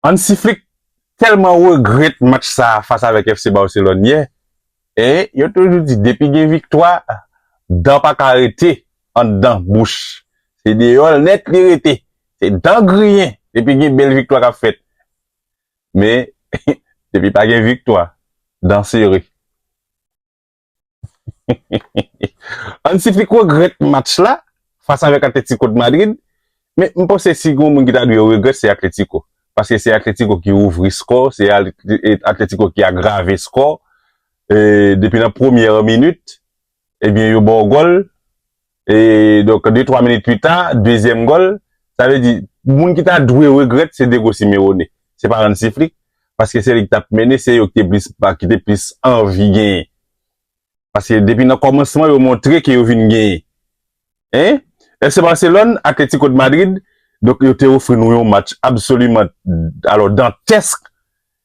Hansi Flick tèlman regrèt match sa fas avèk FC Barcelone yè e yo toujou di depi gen viktwa dan pa ka rete anndan bouch se deyò l nèt li rete se dan griyen depi gen bèl viktwa k ap fèt men depi pa gen viktwa dan sere. Hansi-Flick regrèt match la fas avèk Atlético de Madrid, men m panse si gen yon moun ki ta dwe regrèt se Atlético, paske se Atlético ki ouvri skò, se Atlético ki agrave skò, depi nan premyè minit ebyen yo ba w gòl. E donk de twa minit pita, dezyèm gòl, sa vle di moun ki ta dwe regrèt se Diego Simeone, se pa Hansi Flick, paske se li ki t ap mennen, se yo ki te plis pa, ki te plis anvi genyen. Paske depi nan kòmansman yo montre ke yo vin genyen. Hein? FC Barcelone, Atlético de Madrid, donk yo te ofri nou yon match absoliman, alò dantèsk,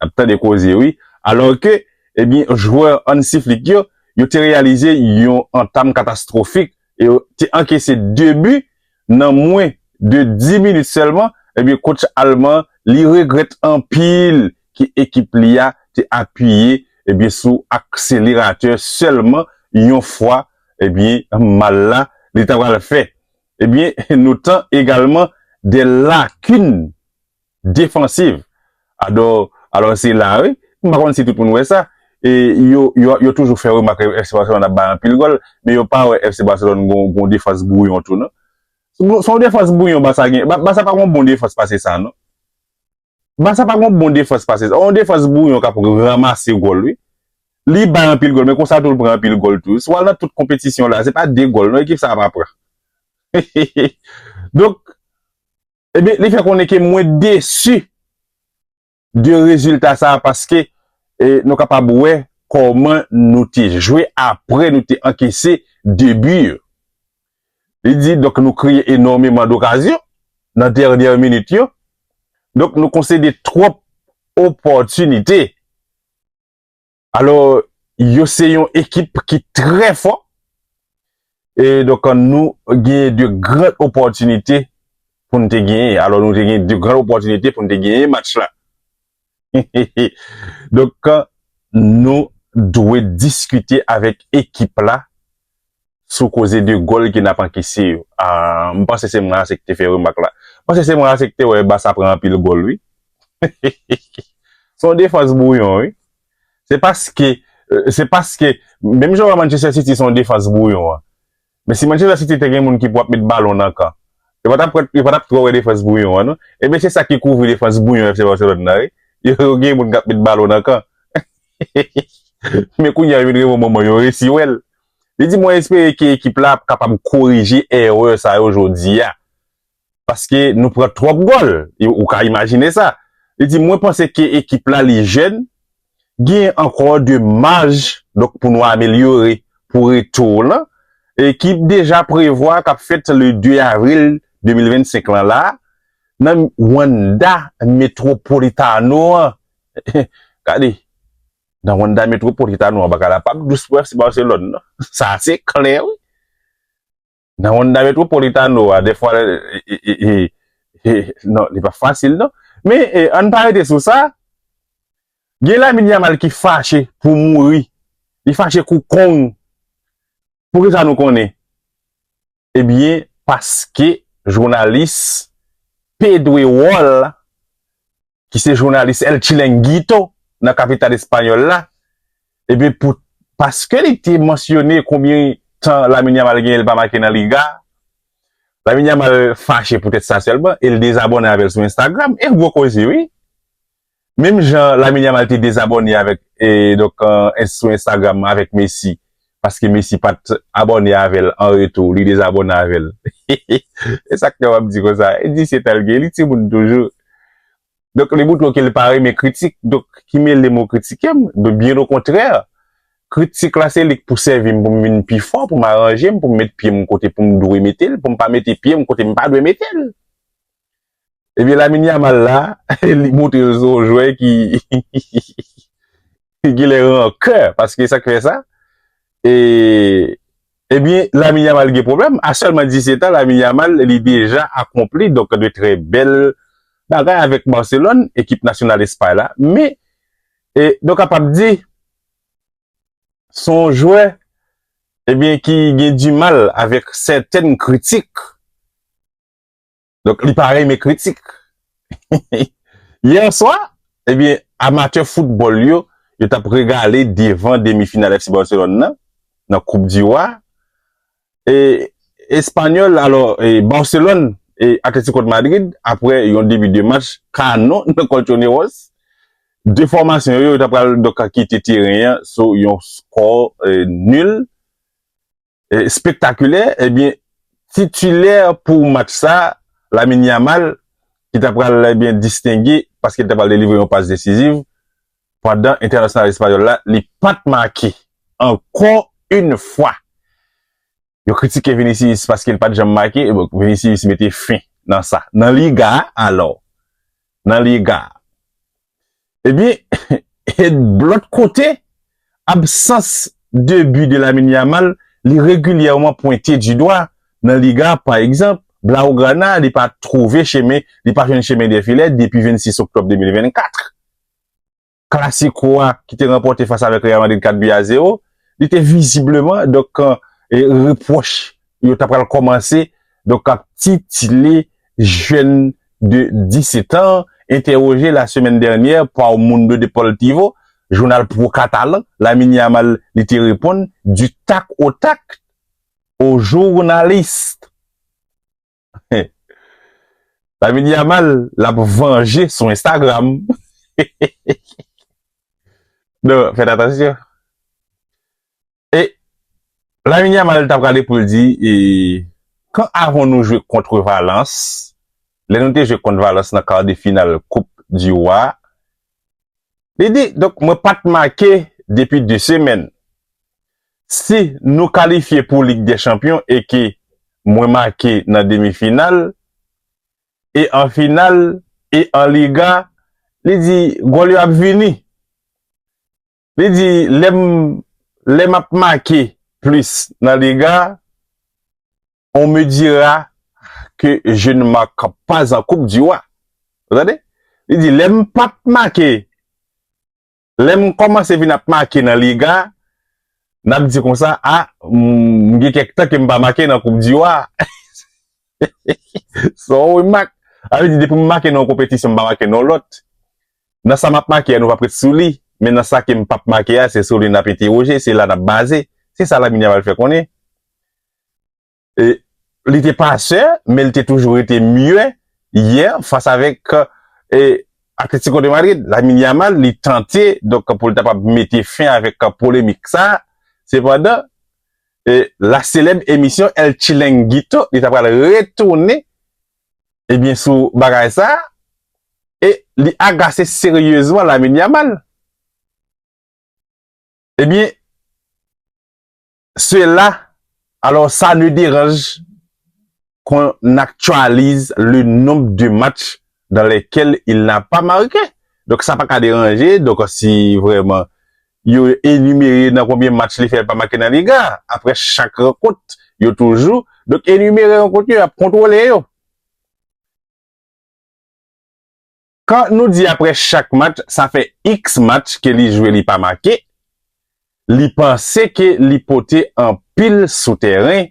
Nap tande koze wi. Alò ke, ebyen jwè Hansi Flick yo, yo te reyalize yon antam katastwofik e yo te ankese 2 bi nan mwen de 10 minit sèlman, ebyen kotch alman li regrèt anpil ke ekip li a te apiye ebyen sou akseleratè sèlman yon fwa, ebyen mal la li ta pral fè. Ebyen notan egalman de lakin defansiv. Alò se la wi, m pa konn si tout moun wè sa, yo toujou fè remak FC Barcelone ap bay anpil gòl, men yo pa wè FC Barcelone gon defans bwouyon tou non. Se yon defans bwouyon Barça gen, Barça pa gon bon defans pase sa non. Barça pa gon bon defans pase sa. Yon defans bwouyon k ap ranmase gòl wi. Li bay anpil gòl men konsa tou l pran anpil gòl tou. Si w al nan tout konpetisyon la, se pa 2 gòl non ekip sa a pa pran. Donk. Ebyen li fè konnen ke mwen desi de rezilta sa paske nou kapab wè kòman nou te jwe apre nou te ankese 2 bi yo. Li di donk nou kreye enòmeman dokazyon nan dènyè minit yo. Donk nou konsede twòp opòtinite. Alò, yo se yon ekip ki trè fò. E donk an nou genyen 2 gran opòtinite pou n te genyen. Alò nou te genyen 2 gran opòtinite pou n te genyen match la. Donk an nou dwe diskite avèk ekip la sou koze 2 gòl ke nap ankese yo. Ahh m panse se mwen ase ki te fè remak la. M panse se mwen ase ki te wè Barça pran anpil gòl wi. Heheheh. Se yon defans bwouyon wi. Se paske, se paske, menm jan wè Manchester City se yon defans bwouyon an. Men si Manchester City te gen moun ki pou ap met balon nan kan, yo pa tap kwè, yo pa tap twò wè defans bwouyon an non. Ebyen se sa ki kouvri defans bwouyon FC Barcelone nan wi. Yo gen moun kap met balon nan kan. Men kounye a yo vin reponn manman yo resi wè l. Li di mwen espere ke ekip la ap kapab korije erè sa yo jodi a. Paske nou pran twòp gòl. Ou ka imajine sa. Li di mwen panse ke ekip la li jèn, genyen ankò de maj donk pou nou amelyore pou retou lan. Ekip deja prevwa kap fèt le 2 avril 2025 lan la nan Wanda Metropolitano an Gade, nan Wanda Metropolitano an, bagay la pap dous pou FC Barcelone non. Sa a se klè wi. Nan Wanda Metropolitano a, defwa, non, li pa fasil non. Men, an pa rete sou sa, gen Lamine Yamal ki fache pou mouri. Li fache kou kong. Pou ki sa nou konnen? Ebyen paske jounalis p dwe wòl ki se jounalis el chilenguito nan kapital espanyòl la ebyen pou paske li te mansyone konbyen tan Lamine Yamal genyen li pa make nan liga Lamine Yamal fache poutèt sa sèlman e li dezabòne avèl sou Instagram e gwo koze wi. Menm jan Lamine Yamal te dezabòne avèk donk sou Instagram avèk Messi paske Messi pat abòne avèl an retou li dezabòne avèl hehehe esak fè wap di konsa e di se tanl gen li timoun toujou donk li moutre w kel pa renmen kritik donk ki mele mwen kritikem donk byen okontrè kritik la se lik pou sèvim poum vin pi fò poum aranjem poum met pyem kote poum dwe metel poum pa mete pyem kotem pa dwe metel. Ebyen Lamine Yamal la li montre yo se yon jwè ki genlè rankè paske sak fè sa e ebyen Lamine Yamal gen pwoblèm a sèlman 17 an Lamine Yamal li deja akonpli donk de trè bèl bagay avèk Barcelone ekip nasyonal Espay la me e nou kapab di son jwè ebyen ki gen dimal avèk sèten kritik. Donk li pa renmen kritik. Yè swa, ebyen, amatè foutbòl yo, yo t ap regale devan demi final FC Barcelone nan, nan koup di Wa. E Espanyòl, alò, e Barcelone e Atletico de Madrid, apre yon debi de match kanon nan Colchoneros, 2 fòmasyon yo, yo ta pral donk kite teren an sou yon skò nul. spektakulè, ebyen titilè pou match sa, Lamine Yamal, ki ta pral ebyen distenge paske li ta pral delivre yon pas desiziv, pandan entènasyonal espayòl la, li pat make. Ankò yn fwa, yo kritike Vinicius paske li pat janm make, ebyen Vinicius mete fen nan sa. Nan Liga a alò, nan Liga a, Ebyen, et blot kote, absans de bi de Lamine Yamal li regilyèman pwente di dwa nan Liga pa egzanp, Blaugrana li pa twouve chemen, li pa jwenn chemen dè filè depi 26 oktòb 2024. Klasiko a ki te ranpòte fas avèk Real Madrid 4 bi a 0, li te vizibleman donk repwòch yo ta pral kòmanse donk ap titile jèn de 17 an entèwoje lasemèn dènyè pa O Mundo Deportivo, jounal pro katalan, Lamine Yamal li te reponn du tac au tac o journaliste. Lamine Yamal l ap vanje sou Instagram. Non, fèt atansyon. E Lamine Yamal ta prale pou l di e kan avon nou jwe kontre Valans, lè nou te jwe kont Valans nan kar de final koup di Roi, li di donk mwen pa t make depi 2 semèn. Si nou kalifye pou Lig dè Chanpyon e ke mwen make nan demi final e an final e an Liga, li di gòl yo ap vini. Li di, Lè m ap make plis nan lega, on me dira que je ne marque pas en coupe du roi. Ou tande? Li di, Lè m p ap make, lè m kòmanse vin ap make nan lega, n ap di konsa, A, m gen kèk tan ke m pa make nan koup di wa. Son remak. Sa vle di depi m make nan yon konpetisyon m pa make nan yon lòt. Nan sa m ap make a nou p ap ret sou li, men nan sa ke m p ap make a se sou li n ap entewoje, se la n ap baze, se sa Lamine Yamal fè konnen. E li te pasè, men li te toujou rete mye yè fas avèk Atletico de Madrid. Lamine Yamal li tante donk pou li ta kapab mete fen avèk polemik sa a, sepandan la selèb emisyon El Chilenguito li ta pral retounen ebyen sou bagay sa e li agase seryezman Lamine Yamal. Ebyen sela alò sa ne deranj kon n aktyalize le nonb de match dan lèkèl il na pa marke. Donk sa pa ka deranje donk si vreman Yo enimere nan konbyen match li fè li pa make nan Liga a aprè chak rankont yo toujou donk enimere rankont yo yap kontwole yo. Kan nou di aprè chak match sa fè iks match ke li jwe li pa make li panse ke li pote anpil sou tèren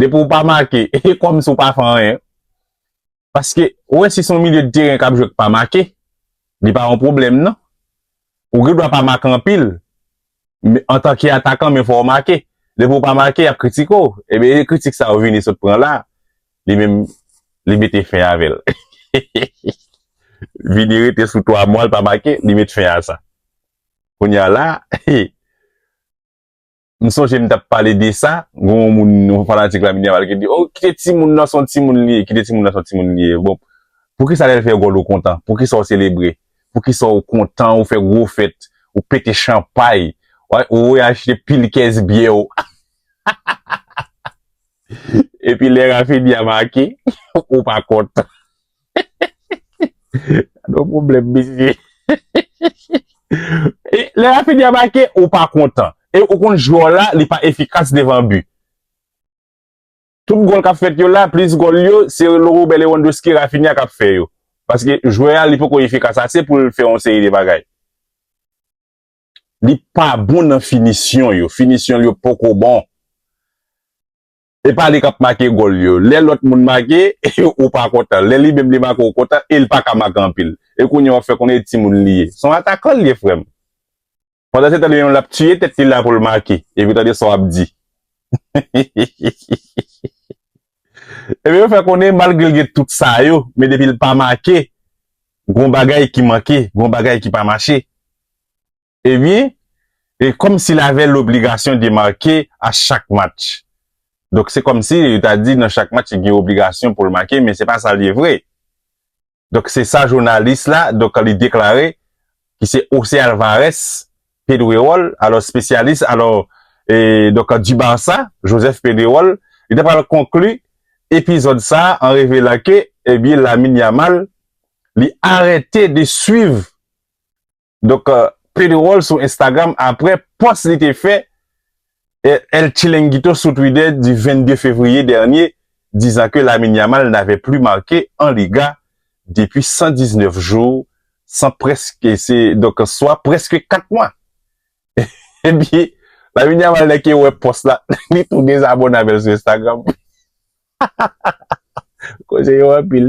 Depi ou pa make, e kòm si ou pa fè anyen. Paske, ou wè si son milye de teren kap jwe k pa make, li pa yon pwoblèm nan. Ou gen dwa pa make anpil, antan ki atakan men fò ou make. Depi ou pa make, yap kritike ou. Ebyen, e kritik sa yo Vini sot pran la, li menm, li mete fen avè l. Vini rete sou 3 mwa l pa make, li met fen a sa. Kounya la, M sonje m tap pale de sa, gen yon moun, yon fanatik la Minerval ki di, oh kite timoun nan son timoun li ye, kite timoun nan son timoun li ye. Bon, poukisa lè l fè gòl ou kontan? Poukisa ou selebre? Poukisa ou kontan, ou fè gwo fèt, ou pete chanpay, ou achte pil kès byè ou? Epi lè Raphinha make, ou pa kontan? Gadon pwoblèm mesye. E lè Raphinha make ou pa kontan. E ou konn jwè w la li pa efikas devan bi. Tout gòl k ap fèt yo la, plis gòl yo se Robert Lewandowski, Raphinha k ap fè yo. Paske jwè a li poko efikas ase pou l fè yon seri de bagay. Li pa bon nan finisyon yo. Finisyon l yo poko bon. E pa li kap make gòl yo. Lè lòt moun make, ou pa kontan. Lè li menm li make ou kontan e li pa ka make anpil. E kounye a wap fè konnen e timoun li ye. Se yon atakan li ye frè m. Pandan se tan li menm lap tiye tèt li la pou l make. Epi tande sa wap di. Ebyen yo fè konnen malgre l gen tout sa yo, men depi l pa make, gon bagay ki manke, gon bagay ki pa mache. ebyen e kòm si l avè lobligasyon de make a chak match. Donk se kòm si yo ta di nan chak match li gen obligasyon pou l make men se pa sa l ye vre. Donk se sa jounalis la donk li deklare ki se Jose Alvarez Pedrerol alò spesyalis alò e donk di Barça Joseph Pedrerol li ta pral konkli epizòd sa an revelan ke ebyen Lamine Yamal li arete de swiv Donk Pedro Roll sou Instagram apre pòs li te fè El Chilenguito sou Twitter di 22 fevriye dènye, dizan ke Lamine Yamal n'avait plus marqué en Liga depuis 119 jours, san prèske se donk swa prèske 4 mwa. Epi Lamine Yamal lè ke wè pòs la li tou dezabòne avèl sou Instagram. Koze yo anpil.